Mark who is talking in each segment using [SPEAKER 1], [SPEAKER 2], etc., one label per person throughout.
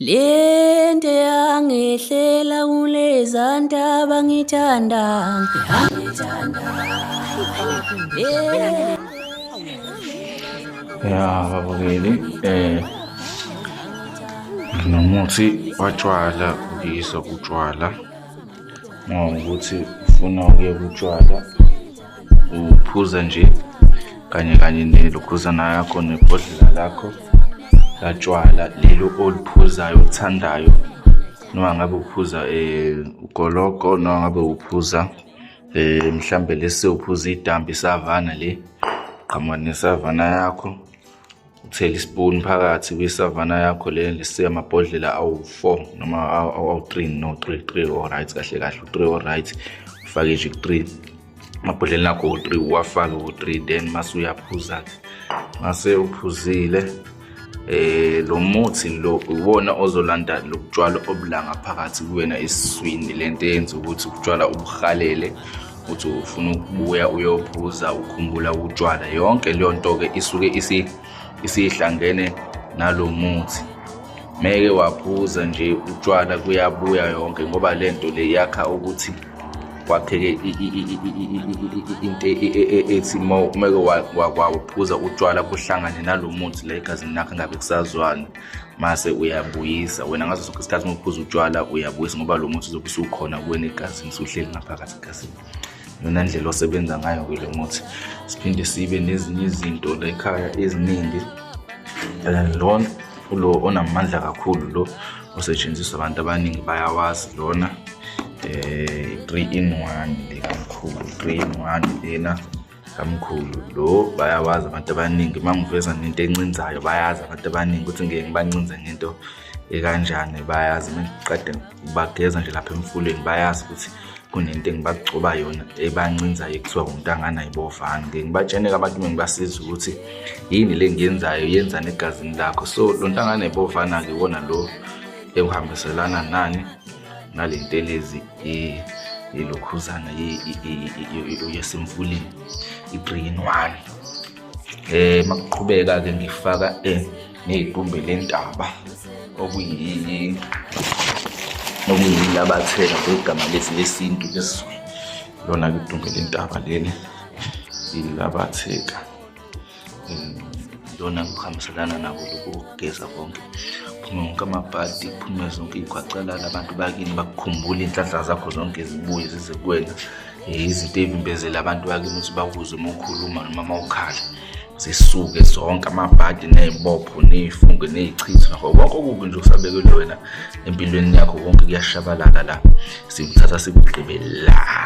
[SPEAKER 1] Lento yangehlela kulezantaba ngithanda ngithanda
[SPEAKER 2] ya babukeli eh nomuthi watshwala uyisa utshwala ngoba ukuthi ufuna ukuye kutshwala uphuza nje kanye kanye nelokhuzana yakho nebhodlela lakho latshwala lelo oliphuzayo olithandayo noma ngabe uphuza um ugologo noma ngabe uphuza um mhlawumbe lesi uphuza idambi isavana le qhamuka nesavana yakho uthela ispoon phakathi kwisavana yakho le lesiya amabhodlela awu-four noma awu-three no three three oright kahle kahle u-three oright ufake nje ku-three amabhodlela akho u-three uwafake u-three then mase uyaphuza-ke mase uphuzile eh lo muthi lo uwona ozolanda lokutshwala obulanga phakathi kuwena esiswini lento yenza ukuthi ukutshwala ubuhalele uthi ufuna ukubuya uyophuza ukhumbula utshwala yonke leyo nto-ke isuke isihlangene nalo muthi meke waphuza nje utshwala kuyabuya yonke ngoba le nto le yakha ukuthi kwakheke into ethi uma umeke waphuza utshwala kuhlangane nalo muthi la egazini lakho ngabe kusazwana mase uyabuyisa wena ngaso sonke isikhathi uma uphuza utshwala uyabuyisa ngoba lo muthi uzobe usukhona kuwena egazini usuhleli ngaphakathi egazini yona ndlela osebenza ngayo-ke lo muthi siphinde sibe nezinye izinto la ekhaya eziningi um lona ulo onamandla kakhulu lo osetshenziswa abantu abaningi bayawazi lona um eh, three in one lekamkhulu three in one lena kamkhulu lo bayawazi abantu abaningi uma ngiveza nento encinzayo bayazi abantu abaningi ukuthi ngeke ngibancinze ngento ekanjani bayazi uma ngiqede ngibageza nje lapha emfuleni bayazi ukuthi kunento engibagcoba yona ebancinzayo ekuthiwa umuntu anganayibovani ngeke ngibatshene-ke abantu uma ngibasiza ukuthi yini le ngiyenzayo yenzani egazini lakho so lo nto anganayibovana-ke iwona lo ewuhambiselana nani nale ntelezi eh ilokhuzana yesimfulini i-three in one eh makuqhubeka ke ngifaka eh neyidumbe lentaba okuyi okuyilabatheka kwegama lesi lesintu lesizulu lona kudumbe lentaba leli ilabatheka yona kuhambiselana nako lokhu kokugeza konke kuphume wonke amabhadi kuphume zonke iy'khwacalala abantu bakini bakukhumbule iy'nhlanhla zakho zonke zibuye zize kuwena eh, izinto ey'vimbezela abantu bakini ukuthi bakuze uma ukhuluma noma uma ukhala zisuke zonke amabhadi ney'bopho ney'funge ney'chitho nakho konke okubi nje okusabekelwe wena empilweni yakho konke kuyashabalala la sikuthatha sikugqibe la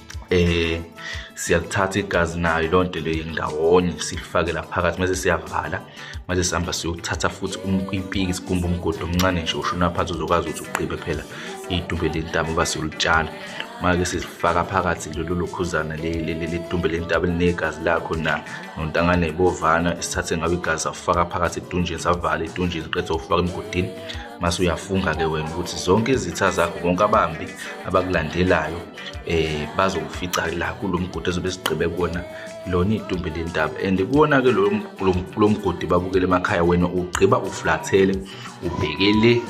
[SPEAKER 2] eh siyalithatha igazi nayo lonto le indawonye silifake la phakathi mase siyavala mase sihamba siyothatha futhi impiki sigumba umgodo omncane nje usho naphansi uzokwazi ukuthi uqibe phela idumbe lentaba uba siyolitshala make sizifaka phakathi lolu lukhuzana ledumbe lentaba elinegazi lakho na nontangane ibovana esithathe ngabe igazi safaka phakathi edunjini savala edunjini qethe ufaka emgodini mase uyafunga-ke wena ukuthi zonke izitha zakho bonke abambi abakulandelayo eh bazokufica la kulomgodi ezobe sigqibe kuona lona idumbe lendaba and kuona ke lo lomgodi babukele emakhaya wena ugqiba uflathele ubhekele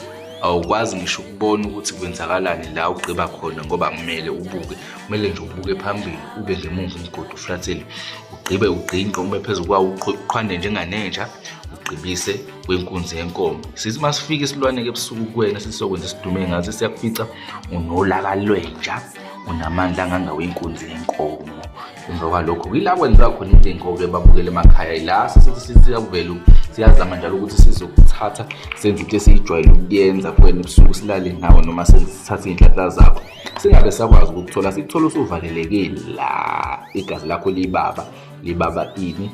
[SPEAKER 2] awukwazi ngisho ukubona ukuthi kwenzakalani la ugqiba khona ngoba kumele ubuke kumele nje ubuke phambili ube ngemuva umgodi uflathele ugqibe ugqinqe ube phezu kwawo uqhwande njenganenja ugqibise kwenkunzi yenkomo sithi masifika isilwane ke ebusuku kuwena sisokwenza isidume ngathi siyakufica unolaka lwenja unamandla angangawe inkunzi yenkomo emva kwalokho yila kwenziwa khona into ey'nkoke babukele emakhaya yila sesiyakuvela siyazama njalo ukuthi sizokuthatha senze into esiyijwayele ukuyenza kuwena ebusuku silale nawe noma sithathe iy'nhlanhla zakho singabe sakwazi ukukuthola sikuthole usuvalelekile la igazi lakho libaba libaba ini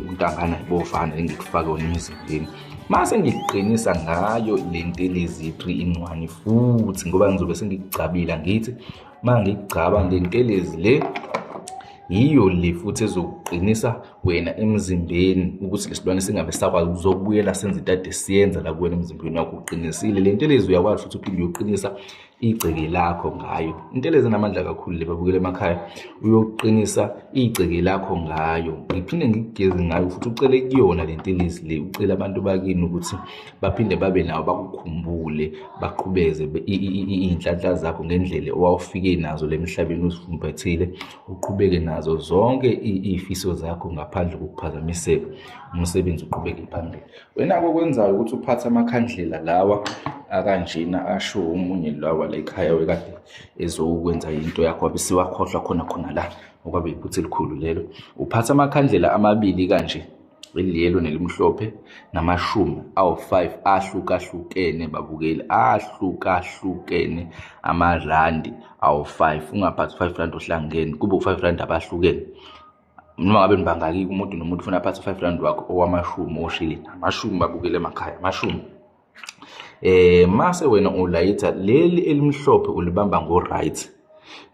[SPEAKER 2] untangana ibovana engikufake wona emzimbeni mase ngiqinisa ngayo le ntelezi ye-3 in 1 futhi ngoba ngizobe sengigcabile ngithi uma ngigcaba le ntelezi le yiyo le futhi ezokuqinisa wena emzimbeni ukuthi lesilwane singabe sakwazi ukuzokubuyela senze itade siyenza la kuwena emzimbeni wakho uqinisile le ntelezi uyakwazi futhi uphinde uyoqinisa igceke lakho ngayo into eleze namandla kakhulu le babukela emakhaya uyoqinisa igceke lakho ngayo ngiphinde ngikugeze ngayo futhi ucele kuyona le ntelezi le ucele abantu bakini ukuthi baphinde babe nawo bakukhumbule baqhubeze iy'nhlanhla zakho ngendlela owawufike nazo le mhlabeni uzifumbathile uqhubeke nazo zonke iy'fiso zakho ngaphandle kokuphazamiseka umsebenzi uqhubeke phambili Wena okwenzayo ukuthi uphathe amakhandlela lawa akanjena asho omunye lawa la ekhaya wekade ezokwenza into yakho wabe siwakhohlwa khona khona la okwabe iphutha elikhulu lelo uphatha amakhandlela amabili kanje eliyelo nelimhlophe namashumi awu-5 ahlukahlukene babukeli ahlukahlukene amarandi awu-5 ungaphathi 5 rand ohlangene kube u-5 rand abahlukene noma ngabe nibangaki umuntu nomuntu ufuna aphathe u-five rand wakho owamashumi oshilini amashumi babukele emakhaya amashumi eh mase wena ulayitha leli elimhlophe ulibamba ngo right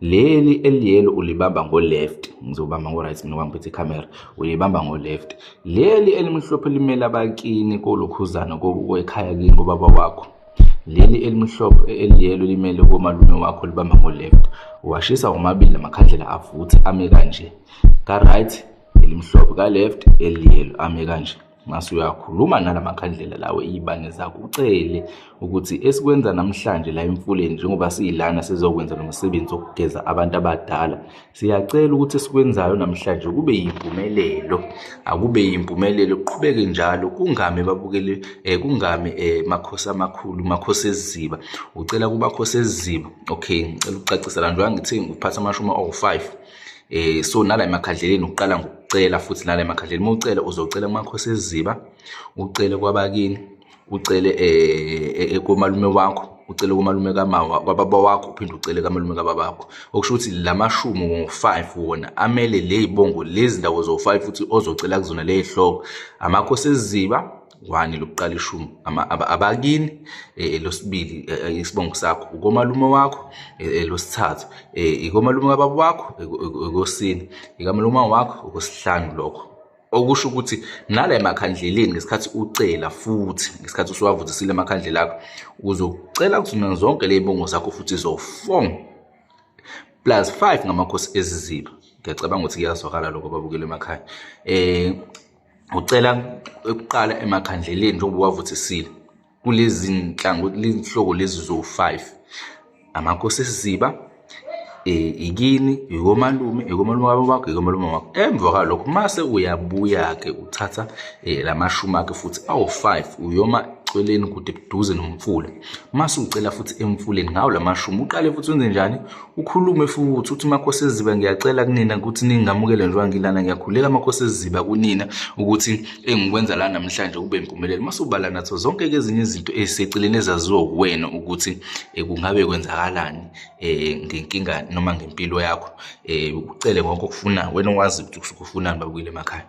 [SPEAKER 2] leli eliyelo ulibamba ngo left ngizobamba ngo right mina ngiphethe camera ulibamba ngo left leli elimhlophe limela bakini kolokhuzana kobuko ekhaya kini ngobaba wakho leli elimhlophe eliyelo limele komalume wakho libamba ngo-left washisa womabili lamakhandlela avuthe ame kanje ka-right elimhlophe ka-left eliyelo ame kanje mase uyakhuluma nala makhandlela lawo iy'bange zakho ucele ukuthi esikwenza namhlanje la emfuleni njengoba siyilana sizokwenza lo msebenzi wokugeza abantu abadala Siyacela ukuthi esikwenzayo namhlanje kube yimpumelelo, akube yimpumelelo kuqhubeke njalo kungami babukele eh, kungami eh, makhosi amakhulu makhosi eziziba ucela kumakhosi eziziba okay ngicela ukucacisa la njengoba ngithe ngikuphatha amashumi awu-5 eh so nala emakhandleleni uqala ngokucela futhi nala emakhandleleni uma ucela uzocela kumakhosi eziziba ucele kwabakini ucele eh, eh, komalume wakho ucele komalume kamawa kwababa wakho uphinde ucele kamalume kababakho okusho ukuthi la mashumu ngo-5 wona amele le yibongo lezi ndawo zo-5 futhi ozocela kuzona le yihloko amakhosi eziziba wani lokuqala ishumi abakini eh, eh, losibili eh, isibongo sakho ukomalume wakho losithathu ikomalume kababa wakho ekosini ikamalume wakho okosihlanu lokho okusho ukuthi nala emakhandleleni ngesikhathi ucela futhi ngesikhathi usuwavuthisile emakhandlela akho uzocela kuzona zonke ley'bongo zakho futhi zofong plus five ngamakhosi eziziba ngiyacabanga ukuthi kuyazwakala lokho babukela emakhaya um ucela ukuqala emakhandleleni njengoba uwavuthisile kulezi nhlangothi lihlobo lezi zo-five amakhosi esiziba um eh, ikini ikomalume ikomalume wabo wakho ikomalume wakho emva kwalokho mase uyabuya-ke uthatha um eh, la mashumi akhe futhi awu-five uyoma eceleni kude buduze nomfula mase ucela futhi emfuleni ngawo la mashumi uqale futhi wenze njani Ukhulume futhi uthi Makhosi Eziba ngiyacela kunina ukuthi ningamukele njengoba ngilana ngiyakhuleka Makhosi Eziba kunina ukuthi engikwenza la namhlanje kube impumelelo masubala natho zonke ezinye izinto eziseceleni ezaziwa kuwena ukuthi eh, kungabe kwenzakalani eh, ngenkinga noma ngempilo yakho eh, ucele konke okufuna wena wazi ukuthi usuke ufunani babuyile emakhaya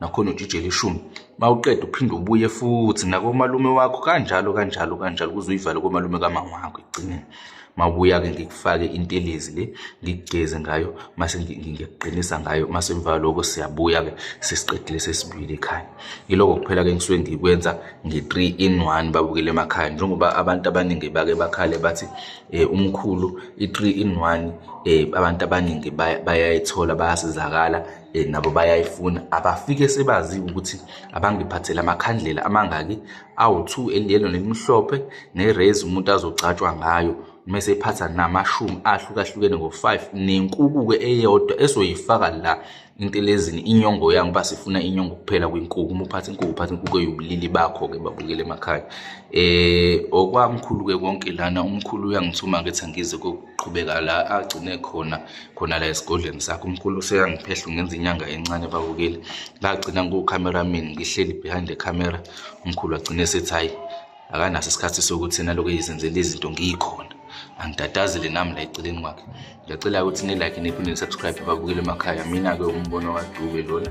[SPEAKER 2] nakhona ujijela ishumi mawuqeda uphinde ubuye futhi nakomalume wakho kanjalo kanjalo kanjalo kuze uyivale komalume kamama wakho ekugcineni mabuya-ke ngikufake intelezi le ngikugeze ngayo mase ngiyaqinisa ngayo mase emva loko siyabuya-ke sesiqedile sesibuyile ekhaya yiloko kuphela-ke ngisuke ngikwenza nge-three in one babukele emakhaya njengoba abantu abaningi bake bakhale bathi um umkhulu i-three in one um abantu abaningi bayayithola bayasizakala eh, nabo bayayifuna abafike sebaziwe ukuthi abangiphathele amakhandlela amangaki awu-two eliyelo nelimhlophe nerezi umuntu azogcatshwa ngayo uma esephatha namashumi ahlukahlukene ngo-five nenkuku-ke eyodwa esoyifaka la intelezini inyongo yangu uba sifuna inyongo kuphela kwinkuku uma uphatha inkuku uphatha inkuku eyubulili bakho-ke babukele emakhaya um okwamkhulu-ke konke lana umkhulu uyangithuma ngithi angize qhubeka la agcine khona khona la esigodlweni sakho umkhulu useyangiphehla ungenza inyanga encane babukeli ngagcina ngukukhameraman ngihleli behind the camera umkhulu agcine sethi hayi akanaso isikhathi sokuthi naloko eyizenzela izinto ngiyikhona angitatazile nami la eceleni kwakhe ngiyacela ukuthi nilike niphinde nisubscribe babukele emakhaya mina-ke umbono wadube lona